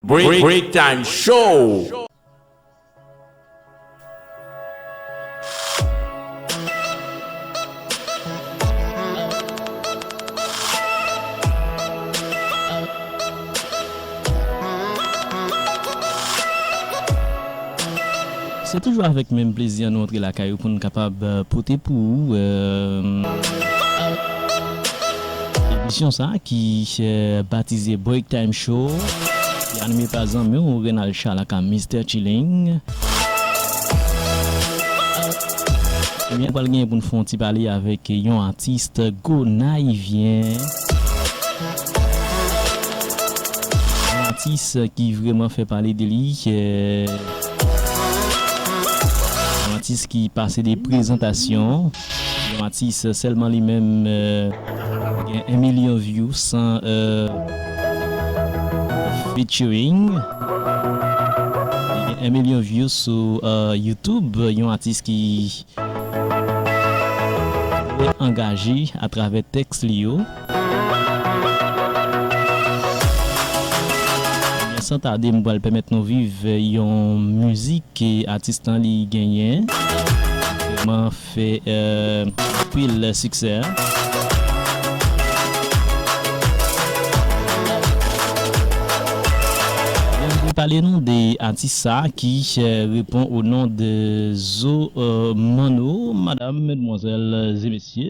Break time show. Se toujou avèk menm plezi an nou antre lakay ou pou nou kapab pote pou ou. Emisyon sa ki batize Break Time Show ki anime pa zanmi w Renald Charles aka Mister Chilling. Ebyen nou pral genyen pou n fè yon ti pale avèk yon atis Gonayivyen. Yon atis ki vreman fè pale de li. Yon atis ki pase de prezantasyon. Yon atis selman li menm gen 1 milyon view san featuring li gen 1 milyon view sou youtube yon atis ki trè angaje atravè teks li yo. Ebyen san tade m pral pèmèt nou viv yon mizik ke atis lan li genyen vreman fè anpil siksè. Ebyen m vle pale nou de atis sa ki repon o non de Zo Manno. Madam, medmwazèl e mesye.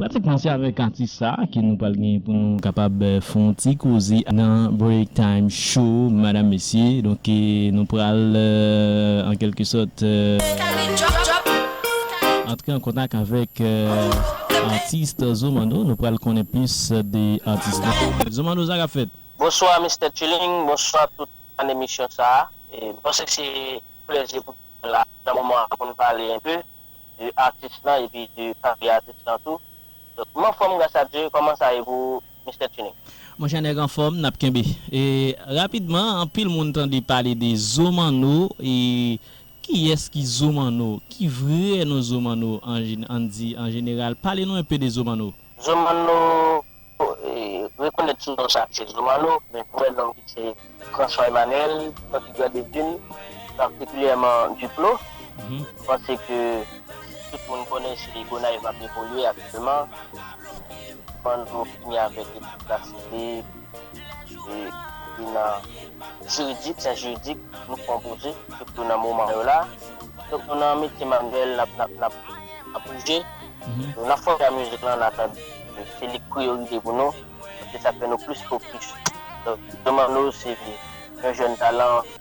Pratikman se avèk atis sa ke nou pral gen pou nou kapab fè yon ti koze nan Break Time Show madam mesye. Donk nou pral an kèlke sòt. Antre an kontak avèk Artist Zomando nou pral konnen plis de Artist la. Zomando sa kap fèt? Bonswa Mistè Tuling, bonswa tout fan emisyon sa a. M panse se plèzi pou tout moun la nan moman an pou n pale enpe de Artist lan epi de karyè Artist lan tou. Donk m anfòm gras a Dye, kòman sa ye pou Mistè Tuling? Monchè nèg anfòm, nap kenbe. Rapidman anpil moun tande pale de Zomano e. Kiyès ki Zo Manno? Ki vre non Zo Manno an di an jeneral? Pale nou enpe de Zo Manno. Zo Manno, Rekonèt ti nonm sa ki se Zo Manno, men vrè nonm li se François Emmanuel Santi Grand Devine, patikilyèman Duplo. Mwen panse ke tout moun konnen se Gonayiv m ap evolye aktyèlman. Zo Manno fini avèk ekip Lasele. ki nan jiridik, syans jiridik, nou pran pwoje, sitou nan moman yo la. Donk nou nan metye manwèl, nap bouje, nou nan fòm nan mizik lan, nan tan se li k priyorite pou nou, se sa k fè nou plis fokis. Donk nou mande w si yon jèn talan.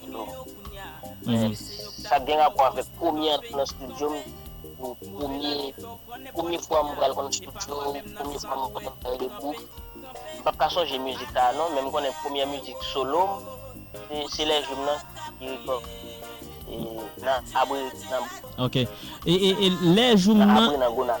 Yo men sak gen rapò avèk premye antre nan studio m yo premye premye fwa m pral konn studio premye fwa m pral bay le group m pap ka sonje mizik sa a non men m konnen premyè mizik solo m se lè jou m nan ki rekòd nan abre nan ok e lè jou m nan abre nan gonav.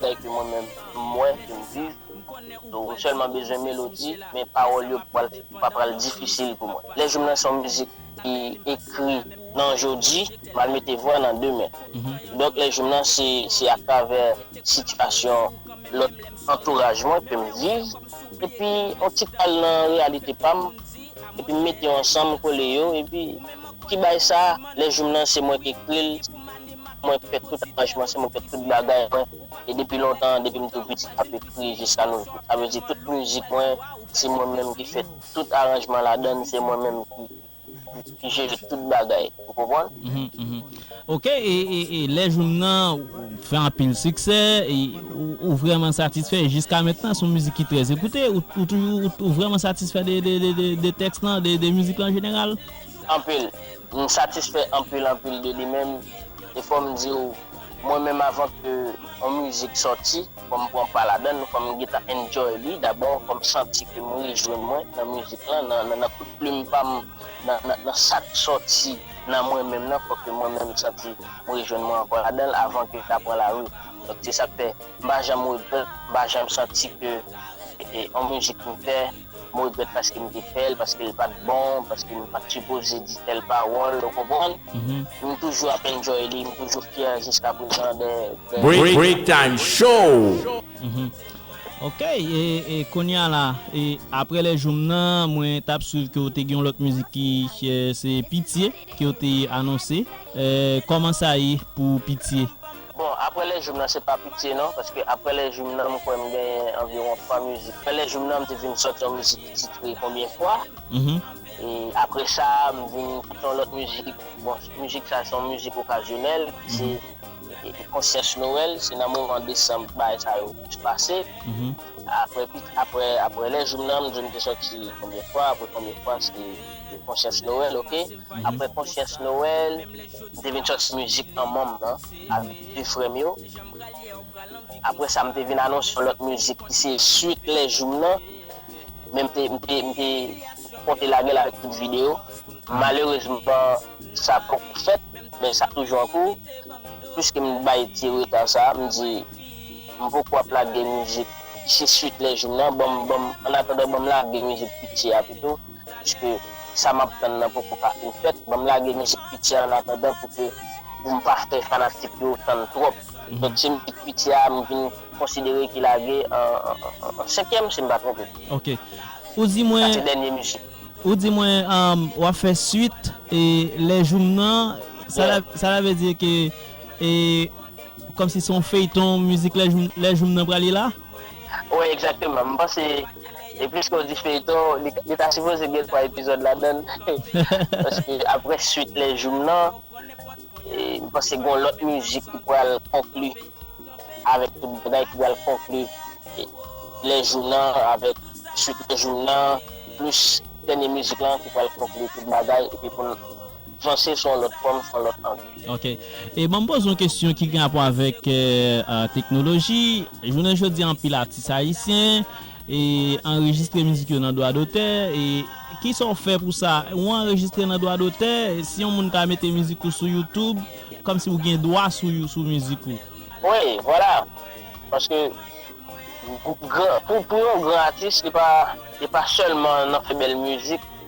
Bagay ke mwen menm m wè, ke m viv, so m sèlman bezwen melodi, men pawòl yo pa pral difisil pou mwen. Lè Joum nan se yon mizik ki ekri nan jodi, m al mete vwa nan demen. Donk Lè Joum nan se atravè sitiyasyon lòt antouraj mwen ke m viv, epi yon ti kal nan reyalite pa m, epi m mete yo ansanm, kole yo, epi ki bay sa, Lè Joum nan se mwen ki ekri l. Mwen fè tout aranjman, se mwen fè tout bagay mwen e depi lontan, depi m tou piti m ap ekri jiska nou jou. Sa vle di tout mizik mwen se mwen menm ki fè tout aranjman ladann, se mwen menm ki jere tout bagay ou konprann. Ok e lè jou m nan fè anpil siksè ou vrèman satisfè jiska mentnan se yon mizik ki trè ekoute ou toujou ou vrèman satisfè de tèks lan, de mizik lan an jeneral? Anpil. M satisfè anpil anpil de li menm e fò m di w mwen menm avan ke yon mizik sòti fò m pran pa ladann fò m gentan enjoy li dabò fò m santi ke m rejwenn mwen nan mizik lan nan kout plim pa m nan sa k sòti nan mwen menm nan fò ke mwen menm santi m rejwenn mwen ankò ladan l avan ke ta pran lari donk se sa k fè m pa janm regrèt m pa janm santi ke yon mizik m fè m regrèt paske m te fè l, paske l pa t bon, paske m pa t sipoze di tèl pawòl, ou konprann? M toujou ap enjoy li, m toujou fyè jiska prezan de. Breaktime show! Ok, e kounye a la, aprè lè jou m nan, mwen t ap swiv ke ou te gen yon lòt mizik ki se Pitye. kew te anonse Koman sa ye pou pitye. Bon aprè lè joum nan se pa pitye non paske aprè lè joum nan m kwè m genyen anviwon 3 mizik aprè lè joum nan m te vin sòti yon mizik ki titre konbyen fwa e aprè sa m vin sòti yon lòt mizik bon mizik sa se yon mizik okazyonèl se konsyans nowèl se nan moman desanm bagay sa yo plis pase aprè aprè aprè lè joum nan m di w m te sòti konbyen fwa aprè konbyen fwa se. de konsyans Noël ok aprè konsyans Noël m te vin sòti mizik manman m nan avèk 2 frè m yo aprè sa m te vin anonse yon lòt mizik ki se swit lè jou m nan men m te m te m te konte lagel avèk tout video malerezman sa poko fèt men sa toujou an kou pwiske m bay ti reta sa m di m poko ap lage mizik ki se swit lè jou m nan banm banm annatandan banm lage mizik piti a pito. Paske sa map tann nan poko ka fin fèt, banm lage mizik piti a annatandan pou ke pou m pa fè fanatik yo tann twòp. Donk se mizik piti a m vin konsidere ki lage an senkyèm si m pa twonpe m. Ok. Ou di mwen. Sa se dènye mizik. Ou di mwen wap fè swit e lè joum nan, sa la vle di ke e kòmsi se yon feyton mizik lè joum nan prale la? Wi exactement m panse e pliske w di feyton li ta sipoze gen 3 epizod ladann paske aprè swit lè joum nan m panse gon lot mizik ki pral konkli avek tout bagay ki pral konkli lè joum nan avek swit lè joum nan plis dènye mizik lan ki pral konkli tout bagay epi poun Vanse son lot fom son lot angle. Ok e banm poze yon kesyon ki gen rapò avèk teknoloji jounen jodi anpil atis ayisyen e anrejistre mizik yo nan dwa dotè e kisa ou fè pou sa ou anrejistre nan dwa dotè si yon moun ta mete mizik ou sou YouTube kòmsi ou gen dwa sou mizik ou. Wi vwala paske pou yon gran atis li pa sèlman nan fè bèl mizik.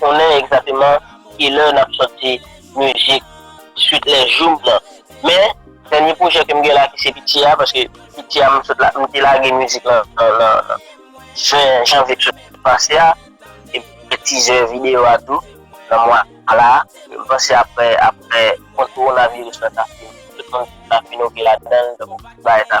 konnen egzateman ki lè nap sòti mizik swit lè joum nan men dènye pwojè kem gen la ki se piti a paske piti a m sot la m te lage mizik lan nan 20 janvye ki sot pase a epi m fè tizè video a tou nan mwa la m panse aprè aprè kont kowonaviris lan ta fini tout moun ta fin ok ladann donk bagay sa.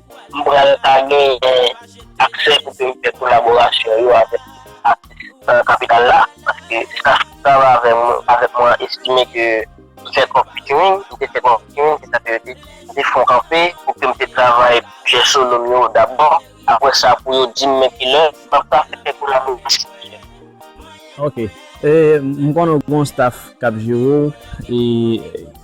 M pral ka genyen aksè pou peyi fè kolaborasyon yo avèk atis nan kapital la paske staf ki travay avèk mwen an estime ke m fè twòp featuring, m te fè twòp featuring se sa ke yo te di. M te fè yon kanpe pou ke m te travay pwojè solo m yo dabò aprè sa pou yo di m men ki lè m ap ka fè kolaborasyon ki lè. Ok, m konnen w gen yon staf k ap jere w e.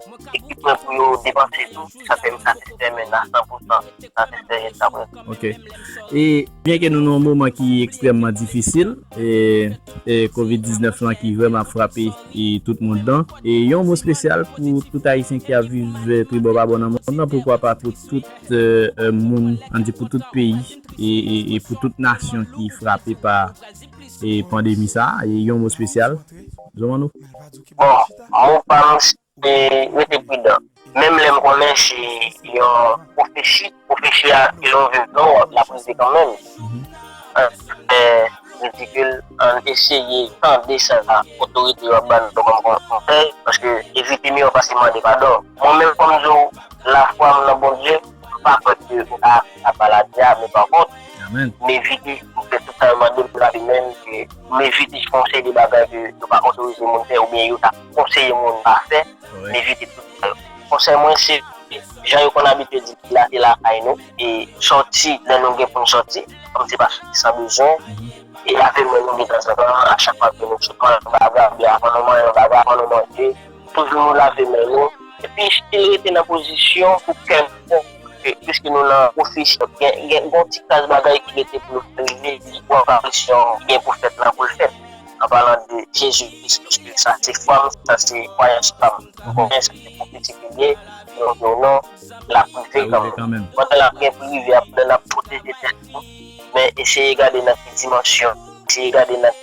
Ki pwen pou yo depanse tou ki sa fè yo satisfè menn a san pou san, satisfè jiska prezan. Ok. E byen ke nou nan yon moman ki ekstrèmman difisil, e covid 19 lan ki vrèman ap frape tout mond lan, e yon mo spesyal pou tout ayisyen ki ap viv tribò pa bò nan mond lan, poukwa pa pou tout moun, an di pou tout peyi e pou tout nasyon ki frape pa pandemi sa, yon mo spesyal. Zo Manno. Bon, mou pa m se rete pridan. Menm lè m konnen se yon pwofesi, pwofesi a si l ouvè vre w l ap rive kanmenm. An fè ridikil, an n eseye tande sa otorite yo ap ba n kòm konsèy paske evite miyò pase mande padon. Mwen menm fò m di w lafwa m nan Bondye m pa pè ke m ka ak maladi a, men pankont, Meviti te toutan mande pou lavi menm ke Meviti te fon seri de bagay ke yo pa otorize moun fè oubyen yo ta konseye moun pa fè, Meviti te toutan yo. Konsèy mwen se, jan yo konn abitye di la se lakay nou, e sòti lè nou gen pou nou sòti, kòm se pa sòti san bezwen, e lave men nou detanzantan, a chak fwa ke nou sot manyen yon bagay, oubyen avan nou manyen yon bagay, avan nou manje. Toujou lave men nou epi evite rete nan pozisyon pou kèlkonk kote piske nou nan pwofesyon. Gen yon ti kras bagay ki rete pou nou fè rive pou aparisyon an ki gen pou fèt la pou l fèt, anpalan de Jezi Kris piske sa se fwa m, sa se kwayans pa m. M konnen sa se pwofesi ki ye, men m di w non, l ap rive kanmenm. Pandan l ap gen pou l rive a, pandan n ap pwoteje tèt nou, men eseye gade nan ki dimansyon, eseye gade nan.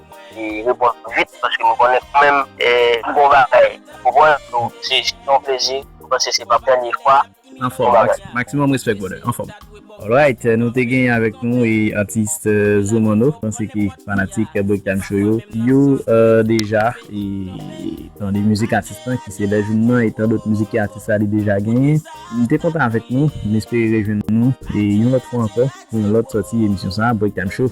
Mwen reponn tou vit paske mwen konnen tou menm. Bon bagay ou pran yo se yon plezi m panse se pap dènye fwa. Anfòm maximum respect brother anfòm. Alright nou te genyen avèk nou atis Zumano panse ke fanatik break time show yo yo deja tande mizik atis lan ki se lè jou m nan e tandot mizik ke atis la li deja genyen m te kontan avèk nou m espere rejwenn nou yon lòt fwa ankò pou yon lòt sòti emisyon sa break time show.